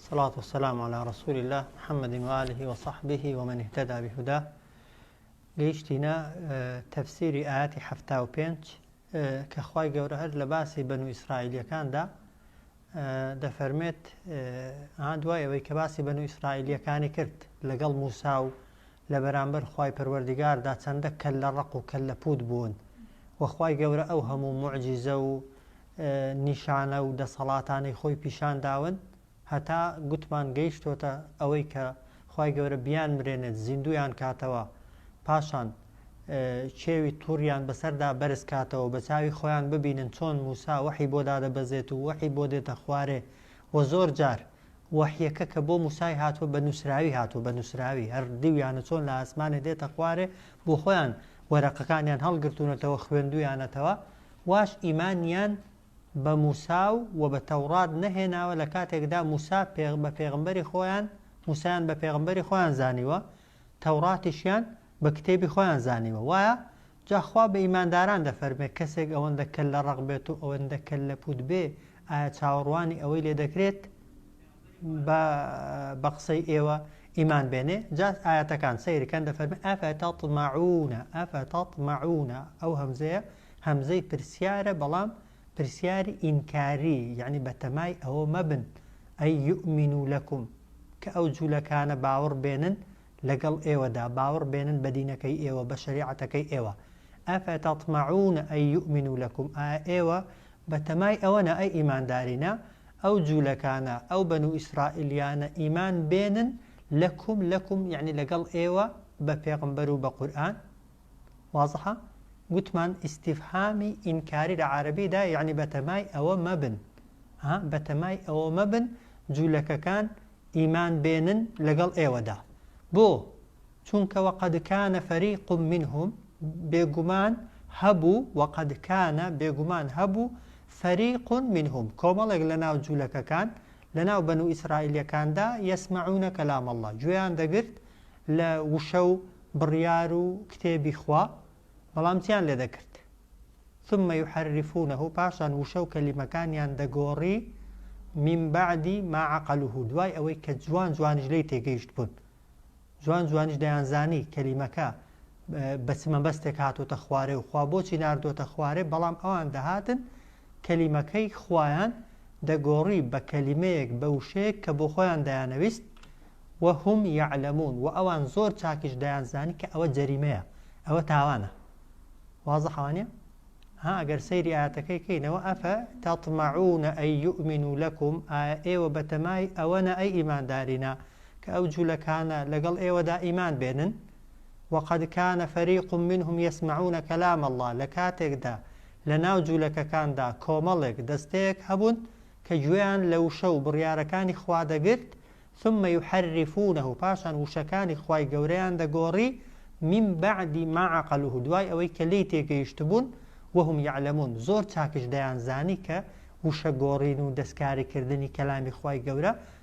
صلوات و سلام علی رسول اللە محمد و آله و صحبه و من اهتدى بهداه گەیشتینە تەفسیری ئاەتی حەفتا و پێنج کە خوای گەورە هەر لە باسی بەن و ئیسرائیلەکاندا دەفەرمێت دوای ئەوەی کە باسی بەن و ئیسرائیلەکانی کرد لەگەڵ موسا و لە بەرامبەر خی پەروەردیگاردا چەندە کەل لە ڕق و کەل لە پوت بوون وەخوای گەورە ئەو هەموو معجیزە و نیشانە و دەسەڵاتانەی خۆی پیشان داون هەتا گوتمان گەیشتۆتە ئەوەی کە خوای گەورە بیانمرێنێت زیندویان کاتەوە پاشان چێوی توڕیان بەسەردا بەرز کاتەوە بە چاوی خۆیان ببینن چۆن موسا وەحی بۆ دادەبەزێت و وەحی بۆ دێتە خوارێ و زۆر جار وەحیەکە کە بۆ موسای هاتووە بە نووسراوی هاتووە بە نووسراوی هەر دیویانە چۆن لە ئاسمانێ دێتە خوارێ بۆ خۆیان وەرەقەکانیان هەڵگرتوونەتەوە خوێندویانەتەوە واش ئیمانیان بە موسا و وە بە تەوڕات نەهێناوە لە کاتێکدا موسا پێغ بە پێغمبەری خۆیان موسایان بە پێغمبەری خۆیان زانیوە تەوڕاتیشیان بە کتێبی خۆیان زانیوە وایە جا خوا بە ئیمانداران دەفەرمێ کەسێک ئەوەندە کەللە ڕەق بێت و ئەوەندە کەللە پووت بێ ئایا چاوەڕوانی ئەوەی لێ دەکرێت با بە قسەی ئێوە ئیمان بێنێ جا ئاەتەکان سەیرکەن دەفەرمێ ئەفە تەطمعونە ئەفە تەطمعونە ئەو هەمزەیە هەمزەی پرسیارە بەڵام پرسیاری ئینکاری یعنی بە تەمای ئەوە مەبن ئەی یؤمن و لەکم کە ئەو جوولەکانە باوەڕ بێنن لەگەڵ ئێوەدا باوەڕ بێنن بە دینەکەی ئێوە بە شریعەتەکەی ئێوە ئەفە تەطمعونە ئەی یؤمن و لەکم ئا ئێوە بە تەمای ئەوەنە ئەی ئیماندارینە ئەو جولەکانە، ئەو بەنو ئیسرائیلیانە ئیمان بێنن لەکم، لەکم یەعنی لەگەڵ ئێوە، بە پێغمبەر و بە قورئان، وازحە؟ گوتمان ئیستیفهامی ئینکاری لە عارەبی دا یەعنی بەتەمای ئەوە مەبن، ها، بەتەمای ئەوە مەبن جولەکەکان ئیمان بێنن لەگەڵ ئێوەدا. بۆ؟ چونکە وقد کان فریق منهم بێگومان هەبوو وقد کان بێگومان هەبوو فریق منهم کۆمەڵێک لەناو جولەکەکان لەناو بەنو ئیسرائیلیەکاندا یسمعون کلام اللە گوێیان دەگرت لە وشە و بڕیار و کتێبی خوا بەڵام چیان لێ دەکرد ثم يحرفونه پاشان وشە و کەلیمەکانیان دەگۆڕی من بعدی ما عقلوه دوای ئەوەی کە جوان جوانیش لی تێگەیشت بوون جوان جوانیش دەیانزانی کەلیمەکە بە چ مەبەستێک هاتۆتە خوارێ و خوا بۆچی نردۆتە خوارێ بەڵام ئەوان دەهاتن کەلیمەکەی خویان دەگۆڕی بە کەلیمەیەک بە وشەیەک کە بۆ خۆیان دەیانەویست و هم یعلمون و ئەوان زۆر چاکیش دەیانزانی کە ئەوە جەریمەیە ئەوە تاوانە وازە حوانە ها ئەگەر سەیری ئاەتەکەی کەینەوە ئەفە تاتمەعونە ئەی یؤمن و لەکم ئێوە بەتەمای ئەوەنە ئەی ئیماندارینە کە ئەو جولەکانە لەگەڵ ئێوەدا ئیمان بێنن وقد کان فریق منهم یسمعون کلام اللە لەکاتێکدا لەناو جولەکەکاندا کۆمەڵێک دەستەیەک هەبوون کە گوێیان لە وشە و بڕیارەکانی خوا دەگرت ثم یحرفونه پاشان وشەکانی خوای گەورەیان دەگۆڕی من بعد ما عقلوه دوای ئەوەی کە لێی تێگەیشتبوون وهم یعلمون زۆر چاکش دەیان زانی کە وشە گۆڕین و دەستکاریکردنی کەلامی خوای گەورە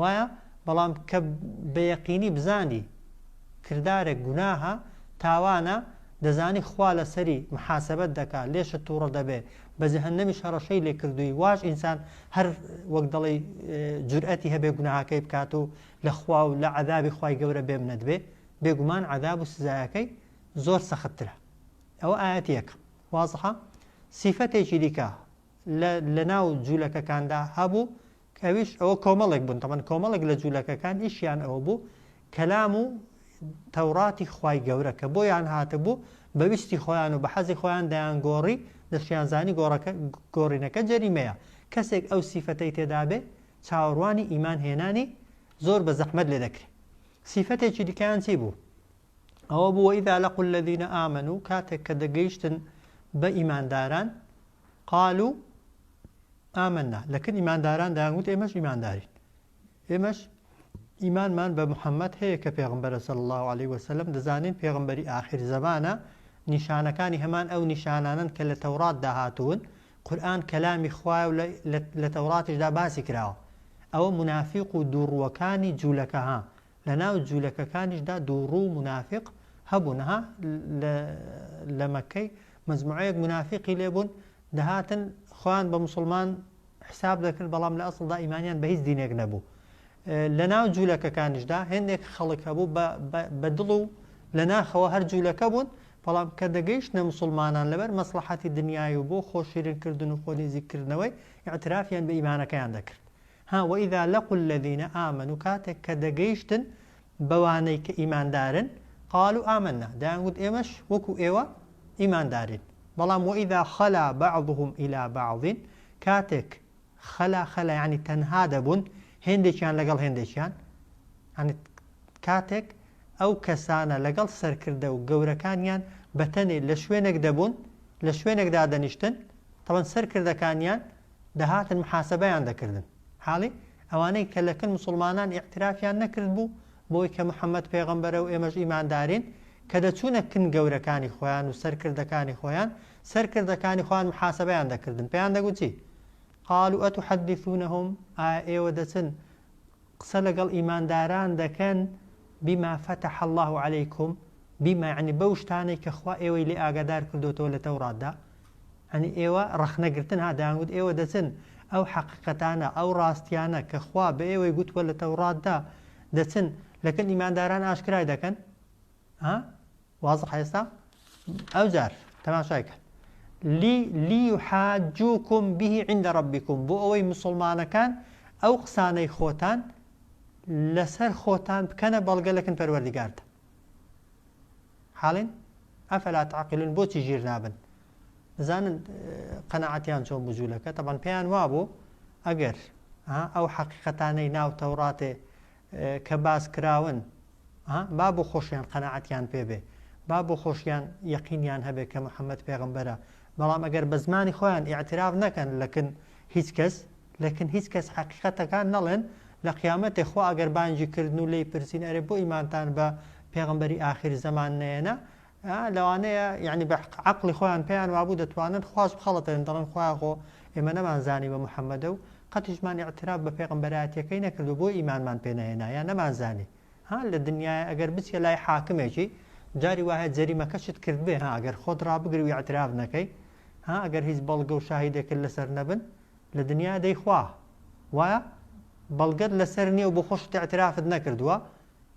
وایە بەڵام کە بەیەقینی بزانی کردارێک گوناهە تاوانە دەزانی خوا لەسەری محاسبەت دەکا لێشت تووڕە دەبێ بە جەهنەمیش هەڕەشەی لێ کردووی واش ئینسان هەر وەک دەڵی جورئەتی هەبێ گوناهاکەی بکات و لە خوا و لە عذابی خی گەورە بێم نەدبێ بێگومان عذاب و سزایەکەی زۆر سەختترە ئەوە ئاەت یەک وازحە سیفەتێکی دیکە لە ناو جوولەکەکاندا هەبوو ئەویش ئەوە کۆمەڵێک بوون تەمان کۆمەڵێک لە جولەکەکان ئیشیان ئەوە بوو کەلام و تەوڕاتی خوای گەورە کە بۆیان هاتبوو بە ویستی خۆیان و بە حەزی خۆیان دەیان گۆڕی دەشیان زانی گۆڕەکە گۆڕینەکە جەریمەیە کەسێک ئەو سیفەتەی تێدابێ چاوەڕوانی ئیمان هێنانی زۆر بە زەحمەت لێ دەکرێت سیفەتێکی دیکەیان چی بوو ئەوە بووە ئیدا لە قول لەدینە ئامن و کاتێک کە دەگەیشتن بە ئیمانداران قالوا آمنا لەکن ئیمانداران دایان گوت ئێمەش ئیماندارین ئێمەش ئیمانمان بە محەممەد هەیە کە پێغمبەرە سەل الله عليه وسلم دەزانین پێغمبەری آخر زمانە نیشانەکانی هەمان ئەو نیشانانن کە لە تەورات داهاتون قورآن کەلامی خوایە و لە تەوراتیشدا باسی کراوە ئەوە منافق و دووڕووەکانی جوولەکە ها لە ناو جوولەکەکانیشدا دووڕوو منافق هەبوونها لە مەکەی مەجموعەیەک مونافیقی لێ بوون دەهاتن خۆیان بە موسڵمان حیساب دەکرد بەڵام لە ئەسڵدا ئیمانیان بە هیچ دینێک نەبوو لە ناو جوولەکەکانیشدا هێندێک خەڵک هەبوو بە دڵ و لە ناخەوە هەر جوولەکە بوون بەڵام کە دەگەیشت نە مسلمانان لەبەر مەسلحەتی دنیای و بۆ خۆشیرنکردن و خۆنیزیکردنەوەی ئاعترافیان بە ئیمانەکەیان دەکرد ها وإذا لقوا الذین آمنوا کاتێک کە دەگەیشتن بەوانەی کە ئیماندارن قالوا آمنا دەیانگوت ئێمەش وەکو ئێوە ئیماندارین بەڵام وإذا خلا بعضهم إلی بعض کاتێک خلا خلا یەعنی تەنها دەبوون هێندێکیان لەگەڵ هێندێکیان یەعنی کاتێک ئەو کەسانە لەگەڵ سەرکردە و گەورەکانیان بەتەنێ لە شوێنێک دەبوون لە شوێنێک دادەنیشتن تەوەن سەرکردەکانیان دەهاتن محاسەبەیان دەکردن حاڵی ئەوانەی کە لە کن مسوڵمانان ئیعترافیان نەکرد بوو بەوەی کە محمد پێغەمبەرە و ئێمەش ئیماندارین کە دەچوونە کن گەورەکانی خۆیان و سەرکردەکانی خۆیان سەرکردەکانی خۆیان محاسەبەیان دەکردن پێیان دەگوت چی قالوا اتحدثونهم ئایا ئێوە دەچن قسە لەگەڵ ئیمانداران دەکەن بما فتح الله عليكم بما يعني بەو شتانەی کە خوا ئێوەی لێ ئاگادار کردوتەوە لە تەوراتدا یانی ئێوە ڕەخنە گرتن ها دەیان وت ئێوە دەچن ئەو حەقیقەتانە ئەو ڕاستیانە کە خوا بە ئێوەی گوتووە لە تەوڕاتدا دەچن لەکەل ئیمانداران ئاشکرای دەکەن ها واضح ئێستا ئەو جار تەماشای کە لی لی حاجوکم به عند ربکم بۆ ئەوەی مسلمانەکان ئەو قسانەی خۆتان لەسەر خۆتان بکەنە بەڵگە لەکن پەروەردگارتە حاڵین ئەفەلا تعقلون بۆچی ژیر نابن بزانن قەنەعەتیان چۆن بجوولەکە تەبان پێیان وابوو ئەگەر ئەو حەقیقەتانەی ناو تەوڕاتێ کە باس کراون با بۆ خۆشیان قەنەعەتیان پێبێ با بۆ خۆشیان یەقینیان هەبێت کە محەممەد پێغمبەرە بەڵام ئەگەر بە زمانی خۆیان ئاعتراف نەکەن لەکن هیچ کەس لەکن هیچ کەس حەقیقەتەکان نەڵێن لە قیامەتێ خوا ئەگەر بانگی کردن و لێی پرسین ئەرێ بۆ ئیمانتان بە پێغەمبەری ئاخیر زەمان نەێنا ئا لەوانەیە یعنی بە عەقڵی خۆیان پێیان وابوو دەتوانن خواش بخەڵەتێن دەڵێن خوایە خۆ ئێمە نەمانزانی بە محەممەدە و قەتیشمان ئیعتراف بە پێغەمبەرایەتیەکەی نەکرد و بۆ ئیمانمان پێ نەهێنا یا نەمانزانی ها لە دنیای ئەگەر بچیە لای حاکمێکی جاری وایە جەریمەکەشت کرد بێ ها ئەگەر خۆت ڕابگری و ئیعتراف نەکەی ها ئەگەر هیچ بەڵگە و شاهیدێکت لەسەر نەبن لە دنیا دەی خوا وایە بەڵگەت لەسەر نیە و بۆ خۆشت اعترافت نەکردووە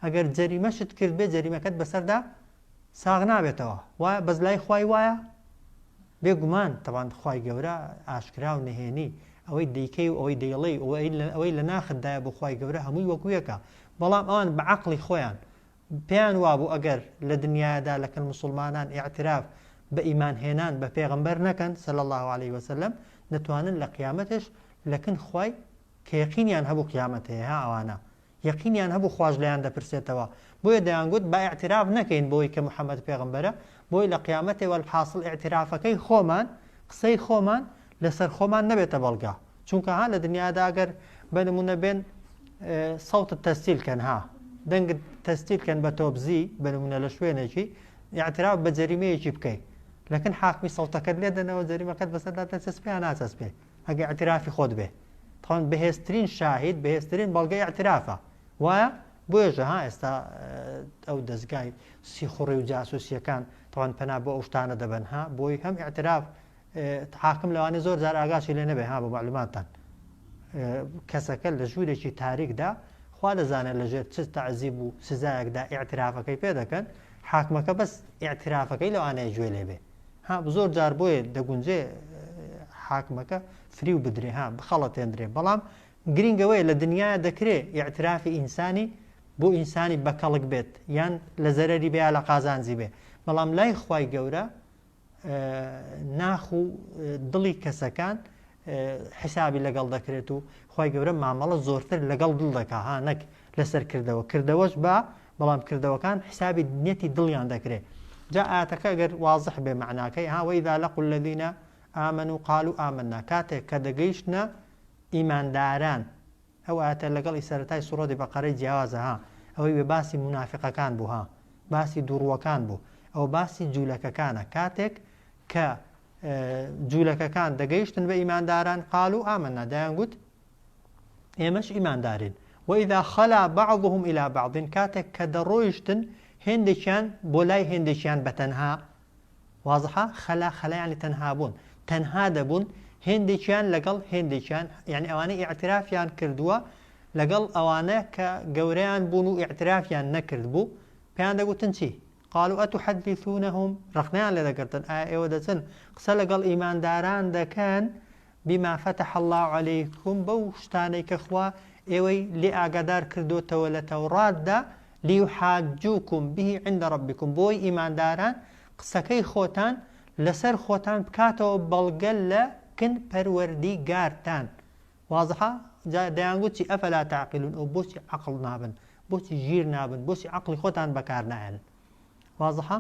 ئەگەر جەریمەشت کردبێ جەریمەکەت بەسەردا ساغ نابێتەوە وایە بەس لای خوای وایە بێ گومان تەوان خوای گەورە ئاشکرا و نهێنی ئەوەی دیکەی و ئەوەی دەیڵی ئەوەی لە ناخدایە بۆ خوای گەورە هەمووی وەکویەکە بەڵام ئەوان بە عقلی خۆیان پێیان وابوو ئەگەر لە دنیایەدا لەکن موسوڵمانان ئیعتراف بە ئیمان هێنان بە پێغەمبەر نەکەن صلی اللە علیە وسلم دەتوانن لە قیامەتش لەکن خوای کە یەقینیان هەبوو قیامەت هەیە ها ئەوانە یەقینیان هەبوو خواش لێیان دەپرسێتەوە بۆیە دەیانگوت با ئیعتراف نەکەین بۆی کە محمد پێغەمبەرە بۆی لە قیامەتێ وەلحاسڵ ئیعترافەکەی خۆمان قسەی خۆمان لەسەر خۆمان نەبێتە بەڵگە چونکە ها لە دنیادا ئەگەر بە نمونە بێن سەوتت تەستیل کەن ها دەنگ تەستیل کەن بە تۆبزی بە نمونە لە شوێنێکی یاعتراف بە جەریمەیەکی بکەیت لەکن حاکمی سەوتەکەت لێ دەنەوە جەریمەکەت بەسەردا دەچەسپێ ناچەسپێ ئەگە ئەترافی خۆت بێ تاوان بەهێزترین شاهید بەهێزترین بەڵگەی ئەترافە وایە بۆێژە ها ئێستا ئەو دەستگای سیخوڕی و جاسوسیەکان تاوان پەنا بۆ ئەو شتانە دەبەنها بۆی هەم ئەتراف حاکم لەوانەیە زۆر جار ئاگاشی لێ نەبێ ها بۆ معلوماتتان کەسەکە لە ژوورێکی تاریکدا خوا دەزانێت لەژێر چ تەعزیب و سزایەکدا ئاعترافەکەی پێ دەکەن حاکمەکە بەس ئاعترافەکەی لەوانەیە گوێ لێ بێ ها زۆر جار بۆیە دەگونجێ حاکمەکە فری و بدرێ ها بخەڵەتێندرێ بەڵام گرنگەوەی لە دنیا دەکرێ ئاعترافی ئینسانی بۆ ئینسانی بەکەڵک بێت یان لە زەرری بێ لە قازانجی بێ بەڵام لای خی گەورە ناخ و دڵی کەسەکان حسابی لەگەڵ دەکرێت و خی گەورە مامەڵە زۆرتر لەگەڵ دڵ دەکا ها نەک لەسەر کردەوە کردەوەش بە بەڵام کردەوەکان حسابی نیەتی دڵیان دەکرێت جا ئاتەکە گەر وازح بێ معناکەی هاوەیدا لە قل لەدینە ئامن و قال و ئامننا کاتێک کە دەگەیشتە ئیمانداران ئەو ئایەتە لەگەڵ ی سەرەتای سوڕەتی بەقەرەی جیاوازە ها ئەوەی وێ باسی مونافیقەکان بوو ها باسی دووڕووەکان بوو ئەوە باسی جوولەکەکانە کاتێک کە جوولەکەکان دەگەیشتن بە ئیمانداران قالو ئامەنا دایان گوت ئێمەش ئیماندارین وإذا خلا بعضهم إلى بعض کاتێک کە دەڕۆیشتن هێندێکیان بۆ لای هێندێکیان بەتەنها وازحە، خەلا، خەلا یانی تەنها بوون، تەنها دەبوون، هێندێکیان لەگەڵ هێندێکیان، یانی ئەوانەی ئیعترافیان کردووە لەگەڵ ئەوانە کە گەورەیان بوون و ئیعترافیان نەکردبوو، پێیان دەگوتن چی؟ قالوا اتحدثونهم ڕەخنەیان لێ دەگرتن، ئایا ئێوە دەچن قسە لەگەڵ ئیمانداران دەکەن بما فتح اللە علیکم بەو شتانەی کە خوا ئێوەی لێ ئاگادار کردۆتەوە لە تەوڕاتدا لیحاجوکم به عند ربکم بۆی ئیمانداران قسەکەی خۆتان لەسەر خۆتان بکاتەوە بەڵگە لە کن پەروەردیگارتان واضحە جا دەیانگوت چی ئەفلا تعقلون ئەو بۆچی عقل نابن بۆچی ژیر نابن بۆچی عقلی خۆتان بەکار نایەن واضحە؟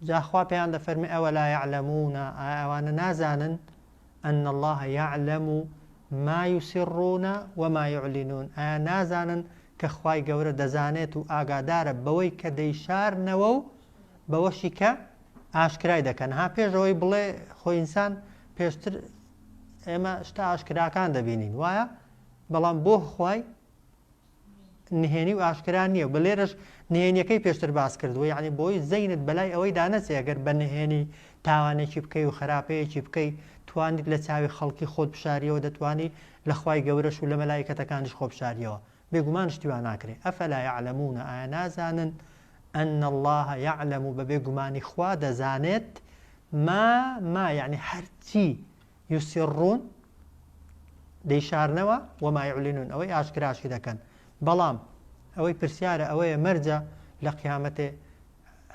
جا خوا پێیان دەفەرمێ ئەوە لا یعلمون ئایا ئەوانە نازانن ان الله یعلم ما یسرون وما یعلنون ئایا نازانن کە خوای گەورە دەزانێت و ئاگادارە بەوەی کە دەیشارنەوە و بەوەشی کە ئاشکرای دەکەن ها پێشەوەی بڵێ خۆ ئینسان پێشتر ئێمە شتا ئاشکراکان دەبینین وایە بەڵام بۆ خوای نهێنی و ئاشکرا نییە و بە لێرەش نهێنیەکەی پێشتر باس کردووە یعنی بۆی زەینت بەلای ئەوەی دانەچێ ئەگەر بە نهێنی تاوانێکی بکەی و خراپەیەکی بکەی توانیت لە چاوی خەڵکی خۆت بشاریەوە دەتوانی لە خوای گەورەش و لە مەلائیکەتەکانیش خۆ بشاریەوە بێگومان شتی وا ناکرێ ئەفلا یعلمون ئایا نازانن ان الله یعلم بە بێگومانی خوا دەزانێت ما ما یعنی هەرچی یوسیڕون، دەیشارنەوە، وما یعلنون، ئەوەی ئاشکراشی دەکەن، بەڵام ئەوەی پرسیارە ئەوەیە مەرجە لە قیامەتێ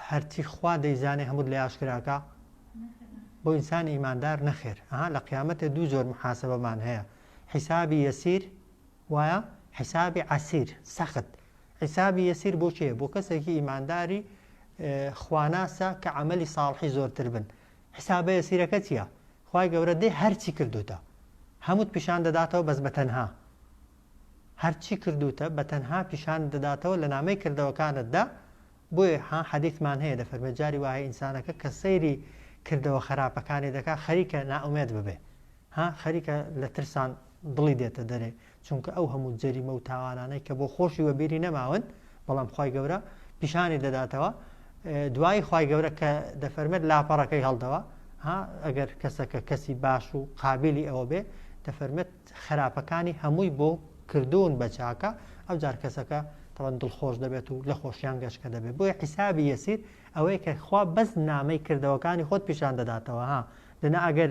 هەرچی خوا دەیزانێ هەمووت لێ ئاشکراکا؟ بۆ ئینسانی ئیماندار نەخێر ئەها لە قیامەتێ دوو جۆر محاسبەمان هەیە حیسابی یەسیر وایە حیسابی عەسیر سەخت حیسابی یەسیر بۆ کێ بۆ کەسێکی ئیمانداری خواناسە کە عملی ساڵحی زۆرتر بن حسابە یەسیرەکە چیە خوای گەورە دەی هەرچی کردوتە هەموت پیشان دەداتەوە بەس بەتەنها هەرچی کردوتە بەتەنها پیشانت دەداتەوە لە نامەی کردەوەکانتدا بۆیە ها حەدیثمان هەیە دەفەرمێ جاری وایە ئینسانەکە کە سەیری کردەوە خەراپەکانی دەکا خەریکە نائومێد ببێ ها خەریکە لە ترسان دڵی دێتە دەرێ چونکە ئەو هەموو جەریمە و تاوانانەی کە بۆ خۆشی وەبیری نەماون بەڵام خی گەورە پیشانی دەداتەوە دوایی خی گەورە کە دەفەرمێت لاپەڕەکەی هەڵدەوە ها ئەگەر کەسەکە کەسی باش و قابلی ئەوە بێ دەفەرمێت خراپەکانی هەمووی بۆ کردوون بە چاکە ئەو جار کەسەکە تەوەن دڵخۆش دەبێت و لە خۆشیان گەشتکە دەبێت بۆی حیسابی یەسیر ئەوەی کە خوا بەس نامەی کردەوەکانی خۆت پیشان دەداتەوە ها دەنا ئەگەر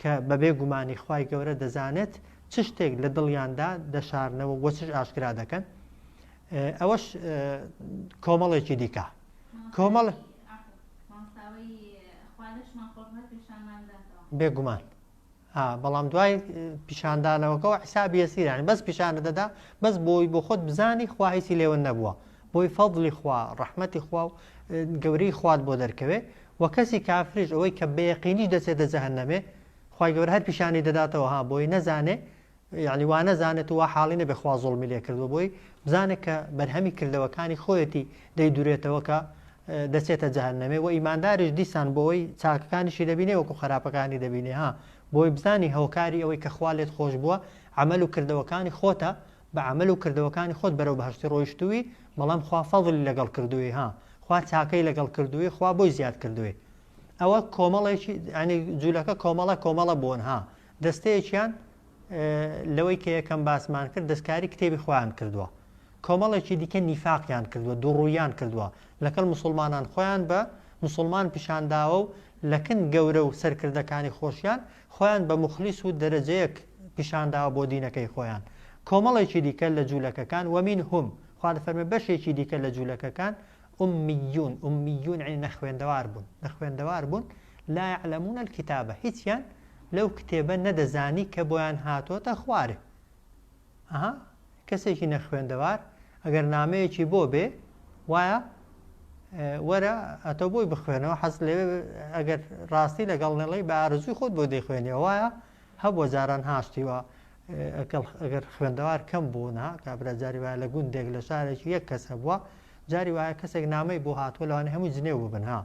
کە بەبێ گومانی خوای گەورە دەزانێت چ شتێک لە دڵیاندا دەشارنەوە وە چش ئاشکرا دەکەن ئەوەش کۆمەڵێکی دیکە کۆمەڵ بێگومان بەڵام دوای پیشاندانەوەکەەوە حسابی ئەسیرانی بەس پیشانە دەدا بەس بۆی بۆ خۆت بزانی خواهیسی لێوە نەبووە بۆی فەضلی خوا ڕحمەتی خوا و گەوری خوارد بۆ دەرکەوێ وە کەسی کافریش ئەوەی کە بەیەقینیش دەچێتە جەهەنەمێ خوای گەورە هەر پیشانی دەداتەوە ها بۆی نەزانێ یەعنی وا نەزانێت و وا حاڵی نەبێ خوا زوڵمی لێ کردووە بۆی بزانێت کە بەرهەمی کردەوەکانی خۆیەتی دەیدورێتەوە کە دەچێتە جەهەنەمێ و ئیمانداریش دیسان بۆی چاکەکانیشی دەبینێ وەکو خراپەکانی دەبینێ ها بۆی بزانی هۆکاری ئەوەی کە خوا لێت خۆش بووە عمل و کردەوەکانی خۆتە بە عەمەل و کردەوەکانی خۆت بەرەو بەهەشتی ڕۆیشتووی بەڵام خوا فەزڵی لەگەڵ کردووی ها خوا چاکەی لەگەڵ کردووی خوا بۆی زیاد کردووی ئەوە کۆمەڵێکی ئەنی جوولەکە کۆمەڵە کۆمەڵە بوون ها دەستەیەکیان لەوەی کە یەکەم باسمان کرد دەستکاری کتێبی خۆیان کردووە کۆمەڵێکی دیکە نیفاقیان کردووە دووڕوویان کردووە لەکەڵ مسلمانان خۆیان بە مسلمان پیشانداوە و لەکن گەورە و سەرکردەکانی خۆشیان خۆیان بە موخلیس و دەرەجەیەک پیشانداوە بۆ دینەکەی خۆیان کۆمەڵێکی دیکە لە جولەکەکان ومن هم خوا دەفەرمێ بەشێکی دیکە لە جولەکەکان امیون امیون یعنی نەخوێندەوار بوون نەخوێندەوار بوون لا یعلمون الکتابە هیچیان لەو کتێبە نەدەزانی کە بۆیان هاتۆتە خوارێ ئەها کەسێکی نەخوێندەوار ئەگەر نامەیەکی بۆ بێ وایە وەرە ئەتۆ بۆی بخوێنەوە حەز لێ ئەگەر ڕاستی لەگەڵ نەڵی بە ئارزوی خۆت بۆ دەیخوێنەوە وایە هەبووە جاران هاشتیوە ئەگەر خوێندەوار کەم بوونا کابرا جاری وایە لە گوندێک لە شارێکی یەک کەس هەبووە جاری وایە کەسێک نامەی بۆ هاتووە لەوانە هەموو جنێو ببنها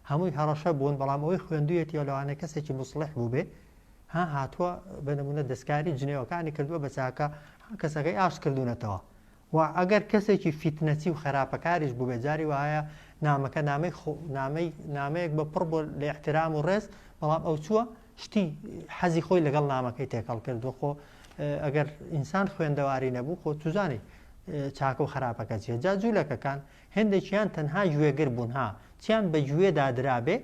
هەمووی هەڕەشە بوون بەڵام ئەوەی خوێندویەتی لەوانە کەسێکی مسلح بوو بێ ها هاتوە بە نمونە دەستکاری جنێوەکانی کردوە بە چاکە ها کەسەکەی ئاشت کردونەتەوە و ئەگەر کەسێکی فیتنەچی و خەراپەکاریش بوبێت جاری وایە نامەکە نامەی خۆ نامەی نامەیەک بە پڕ بۆ لە احترام و ڕێز بەڵام ئەو چووە شتی حەزی خۆی لەگەڵ نامەکەی تێکەڵ کردوە خۆ ئەگەر ئینسان خوێندەواری نەبوو خۆ توزانی چاکە و خراپەکە چیە جا جوولەکەکان هێندێکیان تەنها گوێگر بوون ها چیان بە گوێ دادرابێ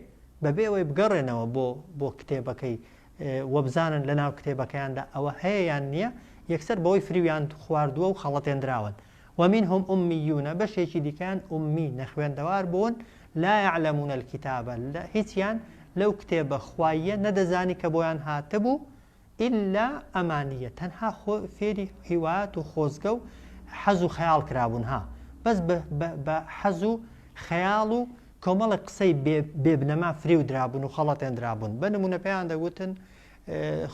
بەبێ ئەوەی بگەڕێنەوە بۆ بۆ کتێبەکەی وە بزانن لە ناو کتێبەکەیاندا ئەوە هەیە یان نییە یەکسەر بەوەی فریویان خواردووە و خەڵەتێندراون ومنهم امیون بەشێکی دیکەیان امی نەخوێندەوار بوون لا یعلمون الکتابە هیچیان لەو کتێبە خواییە نەدەزانی کە بۆیان هاتبوو ئیلا ئەمانیە تەنها خۆ فێری هیوات و خۆزگە و حەز و خەیاڵ کرابوون ها بەس بە بە بە حەز و خەیاڵ و کۆمەڵێک قسەی بێ بێ بنەما فریو درابوون و خەڵەتێندرابوون بە نموونە پێیان دەگوتن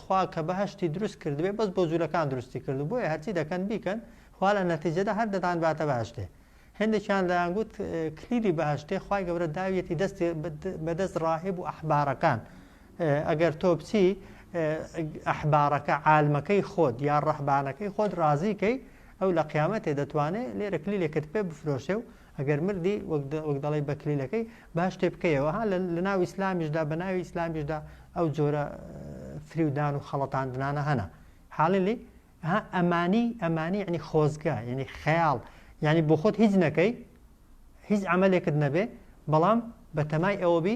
خوا کە بەهشتی دروست کردبێ بەس بۆ جوولەکان دروستی کرد بۆیە هەرچی دەکەن بیکەن خوا لە نەتیجەدا هەر دەتان باتە باشتێ هەندێکیان دەیانگوت کلیلی بەهشتێ خی گەورە داویەتی دەستی بەدەست ڕاهب و ئەحبارەکان ئەگەر تۆ بچی ئەحباڕەکە عالمەکەی خۆت یا ڕەحبانەکەی خۆت ڕازی کەی ئەو لە قیامەتێ دەتوانێت لێرە کلیلێکت پێ بفرۆشێ و ئەگەر مردی وەک دەڵی بە کلیلەکەی باش تێ بکەیەوە ها لە ناو ئیسلامیشدا بە ناوی ئیسلامیشدا ئەو جۆرە فریودان و خەڵەتاندنانە هەنا حاڵلی ئەمانی ئەمانی ینی خۆزگە ینی خەیاڵ ینی بۆ خۆت هیچ نەکەی هیچ ئەمەلێکت نەبێ بەڵام بە تەمای ئەوەبی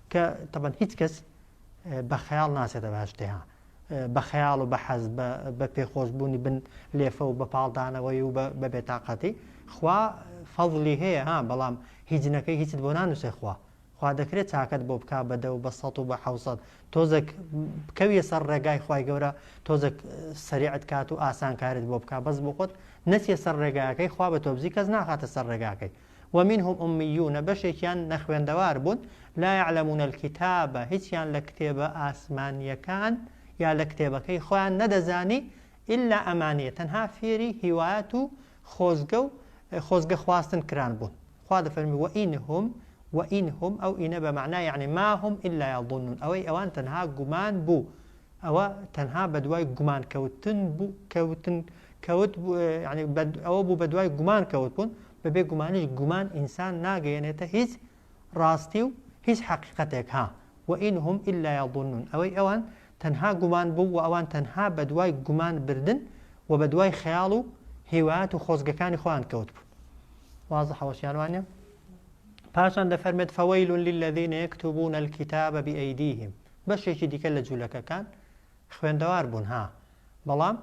کە تەبەن هیچ کەس بە خەیاڵ ناچێتە باشتێها بە خەیاڵ و بە حەز بە پێخۆشببوونی بن لێفە و بە پاڵدانەوەی و بە بێتاقەتی خوا فەضلی هەیە ها بەڵام هیچنەکەی هیچت بۆ نانووسێ خوا خوا دەکرێت چاکەت بۆ بک بەدە و بە سە و بە حوسەت تۆزێک بکەویە سەر ڕێگای خی گەورە تۆزێک سریعت کات و ئاسانکارت بۆ بک بەس بۆ خۆت نەچیە سەر ڕێگاکەی خوا بە تۆبزی کەس ناخاتە سەر ڕێگاکەی ومنهم امیون بەشێکیان نەخوێندەوار بوون لا یعلمون الکتاب هیچیان لە کتێبە ئاسمانیەکان یا لە کتێبەکەی خۆیان نەدەزانی الا امانیە تەنها فێری هیوایەت و خۆزگە و خۆزگە خواستن کران بوون خوا دەفەرمی وئینهم وئینهم ئەو ئینە بە مەعنا یعنی ماهم الا یظنون ئەوەی ئەوان تەنها گومان بوو ئەوە تەنها بەدوای گومان کەوتن بوو کەوتن کەوت یعنی ئەوە بوو بەدوای گومان کەوت بوون بە بێ گومانیش گومان ئینسان ناگەیەنێتە هیچ ڕاستی و هیچ حەقیقەتێک ها و ان هم الا یظنون ئەوەی ئەوان تەنها گومان بوو و ئەوان تەنها بە دوای گومان بردن و بە دوای خەیاڵ و هیوایەت و خۆزگەکانی خۆیان کەوتبوون واضحە وەشیان وانە پاشان دەفەرمێت فویل للذین یکتبون الكتاب بأیدیهم بەشێکی دیکە لە جوولەکەکان خوێندەوار بوون ها بەڵام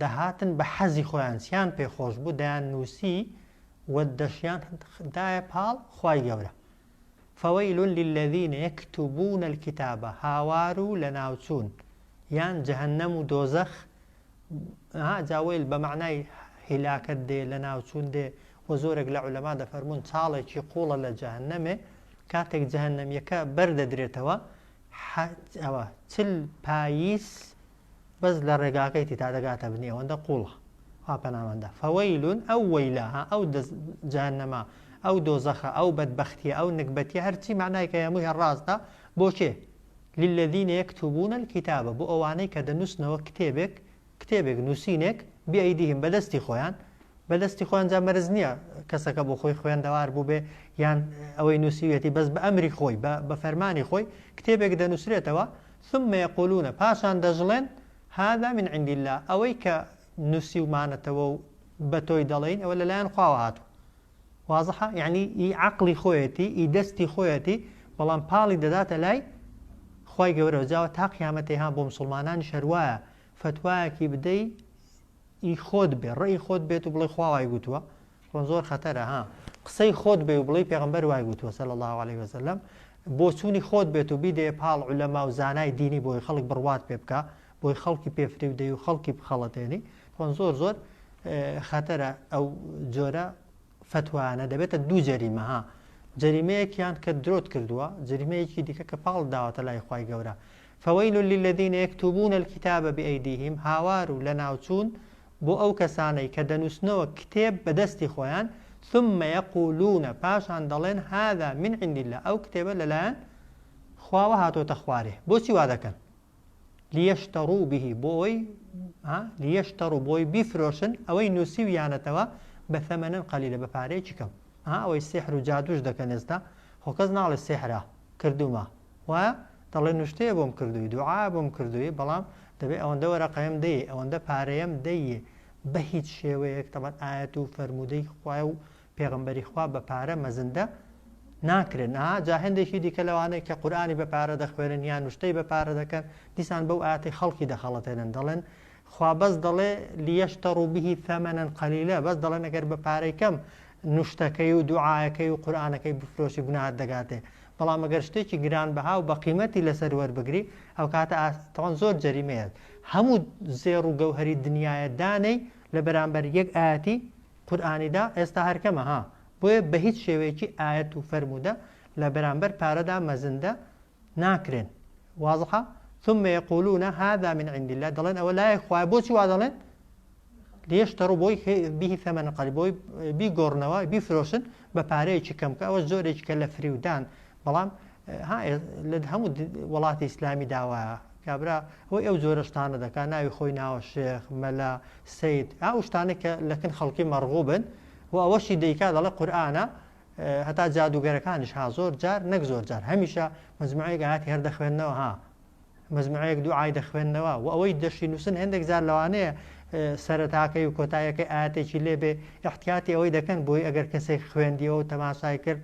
دەهاتن بە حەزی خۆیان چیان پێ خۆش بوو دەیان نووسی و دەشیان دایە پاڵ خوای گەورە فویل للذین یکتبون الکتابە هاوار و لە ناوچوون یان جەهەنەم و دۆزەخ جاوەیل بە معنای هیلاکت دێ لە ناوچوون دێ و زۆرێک لە عولەما دەفەرمونون چاڵێکی قوڵە لە جەهنەمێ کاتێک جەهنەمیەکە بەردەدرێتەوە ئەوە چل پاییس بەس لە ڕێگاکەی تی تا دەگاتە بنی ئەوەندە قوڵە خوا پەناماندە فەوەیل ئەو وەیلە ها ئەو جانەما ئەو دۆزەخە ئەو بەدبەختیە ئەو نکبەتی هەرچی معنای کە هەمووی هەڕاستە بۆ کێ للذینە یەکتوبونە الکتابە بۆ ئەوانەی کە دەنووسنەوە کتێبێک کتێبێک نووسینێک بیئەیدیهم بەدەستی خۆیان بەدەستی خۆیان جا مەرز نییە کەسەکە بۆ خۆی خوێندەوار بووبێ یان ئەوەی نووسیوێتی بەس بە ئەمری خۆی بە فەرمانی خۆی کتێبێک دەنووسرێتەوە ثم یقولون پاشان دەژڵێن هذا من عند اللە ئەوەی کە نوسیومانەتەوە و بەتۆی دەڵێین ئەوە لەلایەن خواوە هاتوە واضحە یعنی ئی عەقڵی خۆیەتی ئی دەستی خۆیەتی بەڵام پاڵی دەداتە لای خوای گەورەوە جاوە تا قیامەتەی ها بۆ مسوڵمانانیش هەروایە فتوایەکی بدەی ئی خۆت بێ ڕێی خۆت بێت و بڵێ خوا وای گوتوە خۆ زۆر خەتەرە ها قسەی خۆت بێ و بڵێی پێغەمبەر وای وتووە صلی اللە علیە وسلم بۆچوونی خۆت بێت و بیدەیە پاڵ عولەما و زانای دینی بۆی خەڵک بڕوات پێ بکە بۆی خەڵکی پێ فریو دەی و خەڵکی بخەڵەتێنی خۆن زۆر زۆر خەتەرە ئەو جۆرە فتوانە دەبێتە دوو جەریمە ها جەریمەیەکیان کە درۆت کردووە جەریمەیەکی دیکە کە پاڵ داوەتە لای خی گەورە فەوەیل للذین یەکتوبون الكتاب بأیدیهم هاوار و لە ناوچوون بۆ ئەو کەسانەی کە دەنووسنەوە کتێب بە دەستی خۆیان، ثم یقولون پاشان دەڵێن هذا من عند اللە ئەو کتێبە لەلایەن خواوە هاتۆتە خوارێ بۆچی وا دەکەن لیشترو به بۆ ئەوەی ها لیشترو بۆی بیفرۆشن ئەوەی نووسیویانەتەوە بە ثەمەنن قەلیلە بە پارەیەکی کەم ها ئەوەی سحر و جادوش دەکەن ئێستا خۆ کەس ناڵێ سحرە کردومە وایە دەڵێ نوشتەیە بۆم کردوی دوعا بۆم کردوی بەڵام دەبێ ئەوەندە وەرەقەیەم دەیێ ئەوەندە پارەیەم دەیێ بەهیچ شێوەیەک تەبەن ئایەت و فەرموودەی خوایە و پێغمبەری خوا بە پارە مەزندە ناکرێن ئا جا هەندێکی دیکە لەوانەیە کە قورآانی بە پارە دەخوێنن یان نوشتەی بە پارە دەکەن دیسان بەو ئاتی خەڵکی دەخەڵەتێنن دەڵێن خوا بەس دەڵێ لیەشتە ڕووبیی ثەمەەن قەلیلە بەس دەڵێن ئەگەر بە پارەی کەم نوشتەکەی و دوعاەکەی و قورآانەکەی بفرۆشی گوناهات دەگاتێ بەڵام ئەگەر شتێکی گران بەها و بە قیمەتی لەسەر وەربگری ئەوکاتە ئاستەوان زۆر جەریمەیە هەموو زێڕ و گەوهری دنیاە دانەی لە بەرامبەر یەک ئاەتی قورآانیدا ئێستا هەرکەمە ها بۆیە بە هیچ شێوەیەکی ئاەت و فەرموودە لە بەرامبەر پارەدا مەزندە ناکرێن وازحە ثم يقولون هذا من عند الله دەڵێن ئەوە لای خوای بۆچی وا دەڵێن لیشترو بۆی بیهی ثمن قەلیل بۆی بیگۆڕنەوە بیفرۆشن بە پارەیەکی کەم کە ئەوە زۆرێک کە لە فریودان بەڵام لە هەموو وڵاتی ئیسلامی داوایە کابرا ئەوی ئەو زۆرە شتانە دەکات ناوی خۆی ناوە شێخ مەلا سید ئەو شتانە کە لەکن خەڵکی مەڕغوبن و ئەوەشی دەیکا دەڵێ قورآانە هەتا جادوگەرەکانیش ها زۆر جار نەک زۆر جار هەمیشە مزمایگاتی هەر دەخوێندنەوە ها مجموعەیەک دوو ئای دەخوێندنەوە و ئەوەی دەشی نووسن هەندێک جار لەوانەیە سەرتاکەی و کۆتایەکەی ئاەتێکی لێ بێ احتیاتی ئەوەی دەکەن بۆی ئەگەر کەسێک خوێندیەوە و تەماشای کرد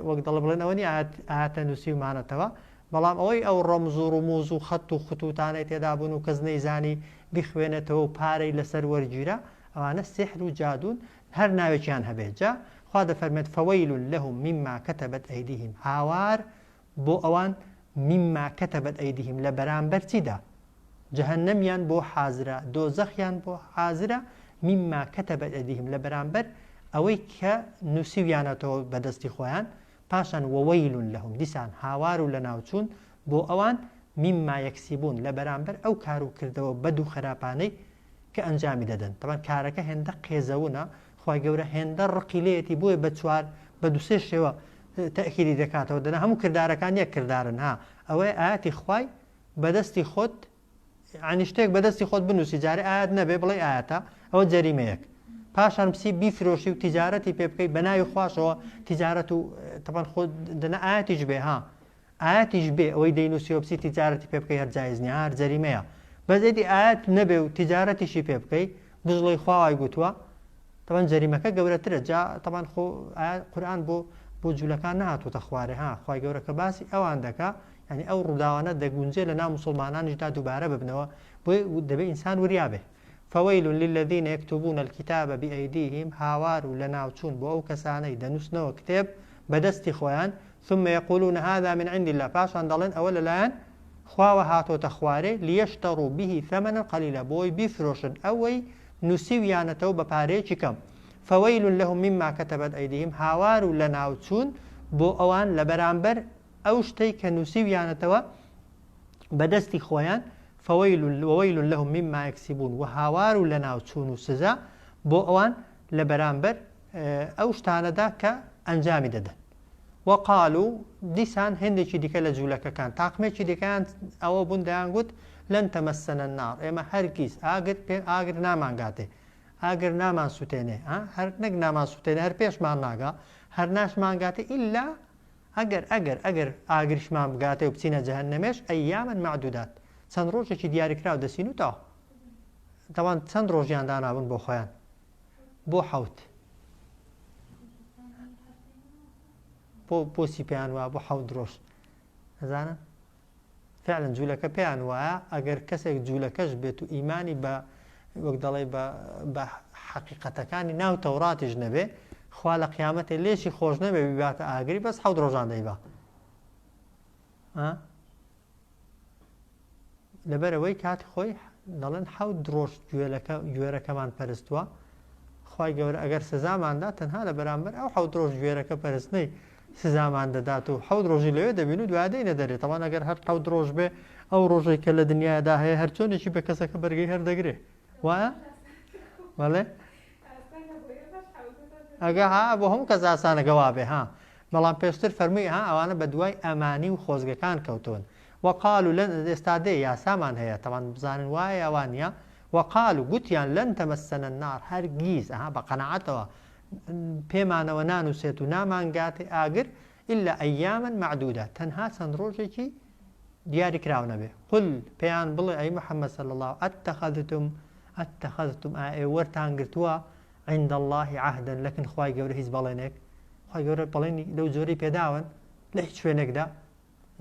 وەک دەڵ بڵێن ئەوەنی ئاەتە نووسیمانەتەوە بەڵام ئەوەی ئەو ڕۆمزوو ڕموز و خەت و خطوتانەی تێدابوون و کەس نەیزانی بخوێنێتەوە و پارەی لەسەر وەرگیرە ئەوانە سحر و جادون هەر ناوێکیان هەبێت جا خوا دەفەرمێت فەوەیل لەهم مما کەتەبەت ئەیدیهم هاوار بۆ ئەوان، مما کتبت ایدیهم، لە بەرامبەر چیدا؟ جەهەنەمیان بۆ حازرە، دۆزەخیان بۆ حازرە، مما کتبت ایدیهم، لە بەرامبەر ئەوەی کە نووسیویانەتەوە بە دەستی خۆیان، پاشان وویل لهم، دیسان هاوار و لەناوچوون بۆ ئەوان، مما یکسبون، لە بەرامبەر ئەو کار و کردەوە بەد و خراپانەی کە ئەنجامی دەدەن تەبان کارەکە هێندە قێزەونە خی گەورە هێندە ڕقی لێتی بۆیە بە چوار بە دوسێ شێوە تەکیری دەکاتەوە دەنا هەموو کردارەکان یەک کردارن ها ئەوەی ئاتی خی بەدەستی خۆت عنی شتێک بەدەستی خۆت بنووسی جارێ ئاات نەبێ بڵێ ئاەتە ئەوە جەریمەیەک پاشان پسی بیفرۆشی و تیجارەتی پێ بکەیت بە ناوی خوشەوە تیجارەت و تەبان خۆ دەنا ئاەتیش بێ ها ئایاتیش بێ ئەوەی دەینوسی وەپسی تیجارەتی پێ بکەی هەر جایز نیە هەر جەریمەیە بەس ئێدی ئایات نەبێ و تیجارەتیشی پێ بکەی بژڵێی خوا وای گوتوە تەبەن جەریمەکە گەورەترە جا تەبەن خۆ ئایات قورئان بۆ بۆ جولەکان نەهاتوتە خوارێ ها خوای گەورە کە باسی ئەوان دەکا یعنی ئەو ڕووداوانە دەگونجێ لە ناو مسوڵمانانیشدا دووبارە ببنەوە بۆی دەبێ ئینسان وریا بێ. فویل للذین یکتبون الکتاب بایدیهم هاوار و لەناوچوون بۆ ئەو کەسانەی دەنووسنەوە کتێب بە دەستی خۆیان ثم یقولون هذا من عند اللە پاشان دەڵێن ئەوە لەلایەن خواوە هاتۆتە خوارێ لیشتروا به ثمنا قلیلا بۆی بیفرۆشن ئەوەی نووسیویانەتەوە بە پارەیەکی کەم فویل لهم مما کتبت ایدیهم هاوار و لەناوچوون بۆ ئەوان لەبەرامبەر ئەو شتەی کە نووسیویانەتەوە بە دەستی خۆیان فەوەیل وەوەیل لەهم مما یەکسیبوون و هاوار و لەناوچوون و سزا بۆ ئەوان لە بەرامبەر ئەو شتانەدا کە ئەنجامی دەدەن وەقال و دیسان هێندێکی دیکە لە جوولەکەکان تاقمێکی دیکەیان ئەوە بوون دەیان گوت لەن تەمەسەنە نار ئێمە هەرگیز ئاگر پێ ئاگر نامانگاتێ ئاگر نامان سووتێنێ هەر نەک نامان سووتێنێ هەر پێشمان ناگا هەر ناشمانگاتێ ئللا ئەگەر ئەگەر ئەگەر ئاگریشمان بگاتێ و بچینە جەهەنەمێش ایاما معدودات چەند ڕۆژێکی دیاریکراو دەچین و تەواو دەوان چەند ڕۆژیان دانابوون بۆ خۆیان بۆ حەوت بۆ بۆچی پێیان وابوو حەوت ڕۆژ ئەزانن فعلا جولەکە پێیان وایە ئەگەر کەسێک جولەکەش بێت و ئیمانی بە وەک دەڵێ بە بە حەقیقەتەکانی ناو تەوراتیش نەبێ خوا لە قیامەتێ لێشی خۆش نەبێ بیباتە ئاگری بەس حەوت ڕۆژان دەیبا لەبەرەوەی کات خۆی دەڵێن حەوت درۆژ گوێرەکەمان پەرستووە خی گەورە ئەگەر سزاماندا تەنها لە بەرامبەر ئەو حەوت درۆژ گوێرەکە پەرستنەی سزامان دەدات و حەوت ڕۆژی لەوێ دەبین و دوای دێینە دەرێ تەوان ئەگەر هەر حەوت ڕۆژ بێ ئەو ڕۆژەی کە لە دنیادا هەیە هەر چۆنێکی بە کەسەکە بەرگەی هەردەگرێ وایە بەڵێ ئەگە ها بۆ هەموو کەس ئاسانەکە وابێ ها بەڵام پێشتر فەرمووی ها ئەوانە بە دوای ئەمانی و خۆزگەکان کەوتون وەقال و لەن ئێستا دێ یاسامان هەیە تەوان بزانن وایە ئەوان نیە وەقال و گوتیان لەن تەمەسەنە نار هەرگیز ئەها بە قەنەعەتەوە پێمانەوە نانووسێت و نامانگاتێ ئاگر ئللا ئەیامەن مەعدودە تەنها چەند ڕۆژێکی دیاری کراو نەبێ قل پێیان بڵێ ئەی محەممەد صلی الله ئەتەخەذتم ئەتەخەذتم ئائێ وەرتان گرتووە عند الله عهدا لەکن خوای گەورە هیچ بەڵێنێک خوای گەورە بەڵێنی لەو جۆرەی پێداون لە هیچ شوێنێکدا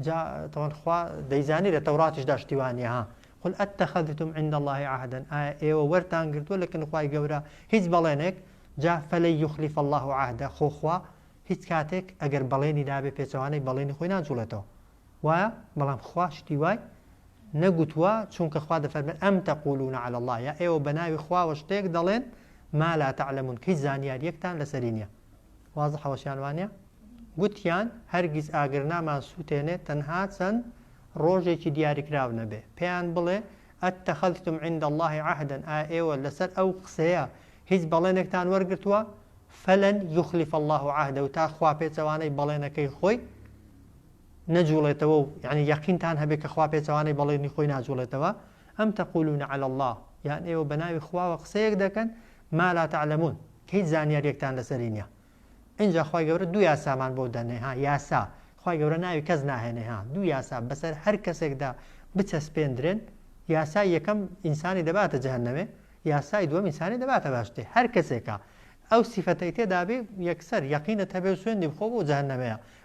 جا تەوان خوا دەیزانی لە تەوراتیش داشتی وانە ها قل ئەتەخەدتم عند الله عهدن ئایا ئێوە وەرتان گرتووە لە کنخوای گەورە هیچ بەڵێنێک جا فەلی یخلیف الله عهدە خۆخوا هیچ کاتێک ئەگەر بەڵێنی دابێ پێچەوانەی بەڵێنی خۆی ناجوڵێتەوە وایە بەڵام خوا شتی وای نەگوتووە چونکە خوا دەفەرمێت ئەم تەقولون على الله یا ئێوە بە ناوی خواوە شتێک دەڵێن ما لا تعلمون کەی زانیاریەکتان لەسەری نیە وازحەوەشیان وانیە گوتیان هەرگیز ئاگر نامان سووتێنێ تەنها چەند ڕۆژێکی دیاریکراو نەبێ پێیان بڵێ ئەتەخەلتم عند الله عهدن ئا ئێوە لەسەر ئەو قسەیە هیچ بەڵێنێکتان وەرگتووە فلن یخلف الله عهدە و تا خوا پێچەوانەی بەڵێنەکەی خۆی نەجوڵێتەوە و یانی یەقینتان هەبێ کە خوا پێچەوانەی بەڵێنی خۆی ناجوڵێتەوە، ئەم تقولون علی اللە، یان ئێوە بە ناوی خواوە قسەیەک دەکەن ما لا تعلمون کە هیچ زانیاریەکتان لەسەری نیە. ئینجا خوای گەورە دوو یاسامان بۆ دەنێ ها یاسا، خوای گەورە ناوی کەس ناهێنێ ها، دوو یاسا بەسەر هەر کەسێکدا بچەسپێندرێن، یاسای یەکەم ئینسانی دەباتە جەهەنەمێ، یاسای دووەم ئینسانی دەباتە بەهەشتێ، هەر کەسێکە ئەو سیفەتەی تێدابێ یەکسەر یەقینت هەبێ و سوێندی بخۆ بۆ جەهەنەمەیە،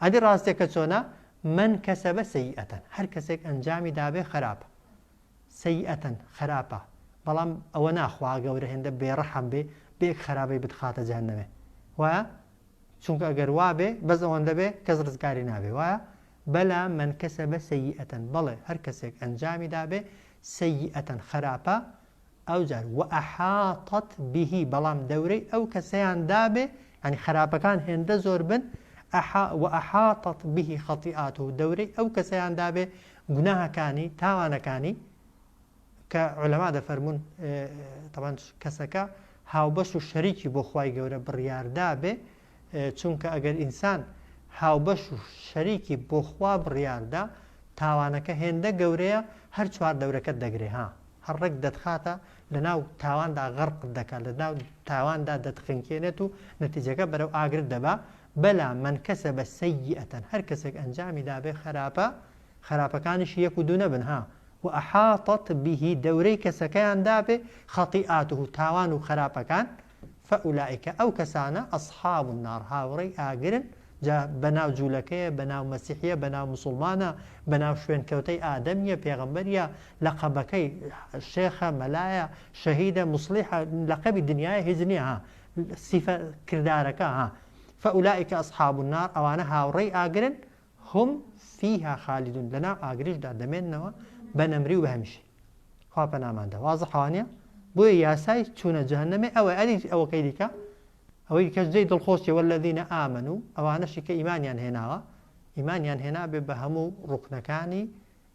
ئەدی ڕاستەکە چۆنە من کسبە سیئەە هەر کەسێک ئەنجامی دابێ خەراپە سیئەە خەراپە بەڵام ئەوە نا خوا گەورە هێندە بێڕەحم بێ بێک خەرابەی بتخاتە جەهەنەمێ وایە چونکە ئەگەر وابێ بەس ئەوەندە بێ کەس ڕزگاری نابێ وایە بەلا من کەسە بە سەیئەتەن بەڵێ هەر کەسێک ئەنجامی دابێ سەیئەتەن خراپە ئەوجار، وأحاطت به، بەڵام دەورەی ئەو کەسەیان دابێ، یانی خەراپەکان هێندە زۆر بن، ئەحا، وأحاطت به خطیئاته، دەورەی ئەو کەسەیان دابێ گوناهەکانی، تاوانەکانی، کە عولەما دەفەرموون، تەبعەن کەسەکە هاوبەش و شەریکی بۆ خوای گەورە بڕیاردابێ، چونکە ئەگەر ئینسان هاوبەش و شەریکی بۆ خوا بڕیاردا تاوانەکە هێندە گەورەیە هەر چوار دەورەکەت دەگرێ ها هەر ڕێک دەتخاتە لە ناو تاواندا غەرقت دەکات لە ناو تاواندا دەتخنکێنێت و نەتیجەکە بەرەو ئاگرت دەبا بەلا من کەسە بە سەیئەتەن هەر کەسێک ئەنجامی دابێ خراپە خراپەکانیش یەک و دوو نەبن ها و ئەحاتت بیهی دەورەی کەسەکەیان دابێ خەتی ئاته تاوان و خراپەکان فاولائک، ئەو کەسانە، اصحاب النار، هاوڕێی ئاگرن، جا بەناو جولەکەیە، بەناو مەسیحیە، بەناو مسوڵمانە، بەناو شوێنکەوتەی ئادەمیە، پێغەمبەریە، لەقەبەکەی، شێخە، مەلایە، شەهیدە، موسڵیحە، لەقەبی دنیایە هیچ نیە ها، سیفە کردارەکە ها، فاولائک اصحاب النار، ئەوانە هاوڕێی ئاگرن، هم فیها خالدون لەناو ئاگریشدا دەمێننەوە بە نەمری و بە هەمیشەی خوا پەناماندا وازح وانە بۆیە یاسای چوونە جەهەنەمێ ئەوە ئەری ئەوەکەی دیکە ئەوەی دیکەش جێی دڵخۆشی والذین آمنو ئەوانەشی کە ئیمانیان هێناوە ئیمانیان هێنابێ بە هەموو ڕوکنەکانی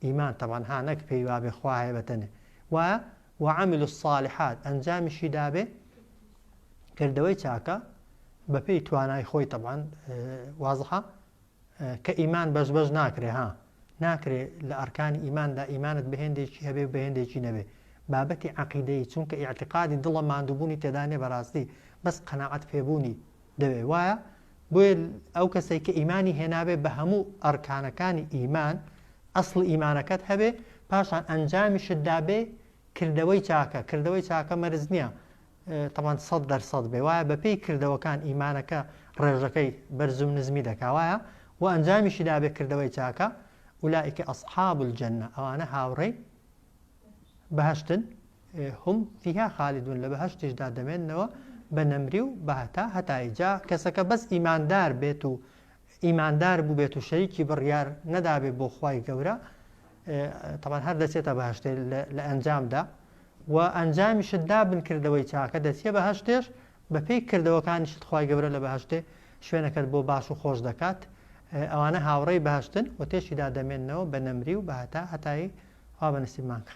ئیمان تەوان هانەک پێی وابێ خوا هەیە بەتەنێ و وعمل الصالحات ئەنجامیشی دابێ کردەوەی چاکە بەپێی توانای خۆی تەبان وازحە کە ئیمان بەش بەش ناکرێ ها ناکرێ لە ئەرکانی ئیماندا ئیمانت بەهێندێکی هەبێ و بەهێندێکی نەبێ بابەتی عقیدەی چونکە ئیعتقادی دڵە ماندووبوونی تێدانێ بەڕاستی بەس قەنەعەت پێبوونی دەوێ وایە بۆیە ئەو کەسێک کە ئیمانی هێناوێ بە هەموو ئەرکانەکانی ئیمان ئەسڵ ئیمانەکەت هەبێ پاشان ئەنجامیشت دابێ کردەوەی چاکە کردەوەی چاکە مەرز نییە تەبعەن سەد دەر سەد بێ وایە بە پێی کردەوەکان ئیمانەکە ڕێژەکەی بەرزو نزمی دەکا وایە وە ئەنجامیشی دابێ کردەوەی چاکە ئولائیکە اصحاب الجنە ئەوانە هاوڕێی بەهشتن هم فیها خالدون لە بەهشتیشدا دەمێنەوە بە نەمری و بەهتا هەتایی جا کەسەکە بەس ئیماندار بێت و ئیماندار بوبێت و شەریکی بڕیار نەدابێت بۆ خوای گەورە تەبان هەر دەچێتە بەهشتێ لە ئەنجامدا و ئەنجامیشت دابن کردەوەی چاکە دەچیە بە هەشتێش بەپێی کردەوەکانیشت خی گەورە لە بەهشتێ شوێنەکەت بۆ باش و خۆش دەکات ئەوانە هاوڕێی باشتن و تێشیدا دەمێنەوە بە نەمری و بەهتا هەتایی وا بە نسیبمانکە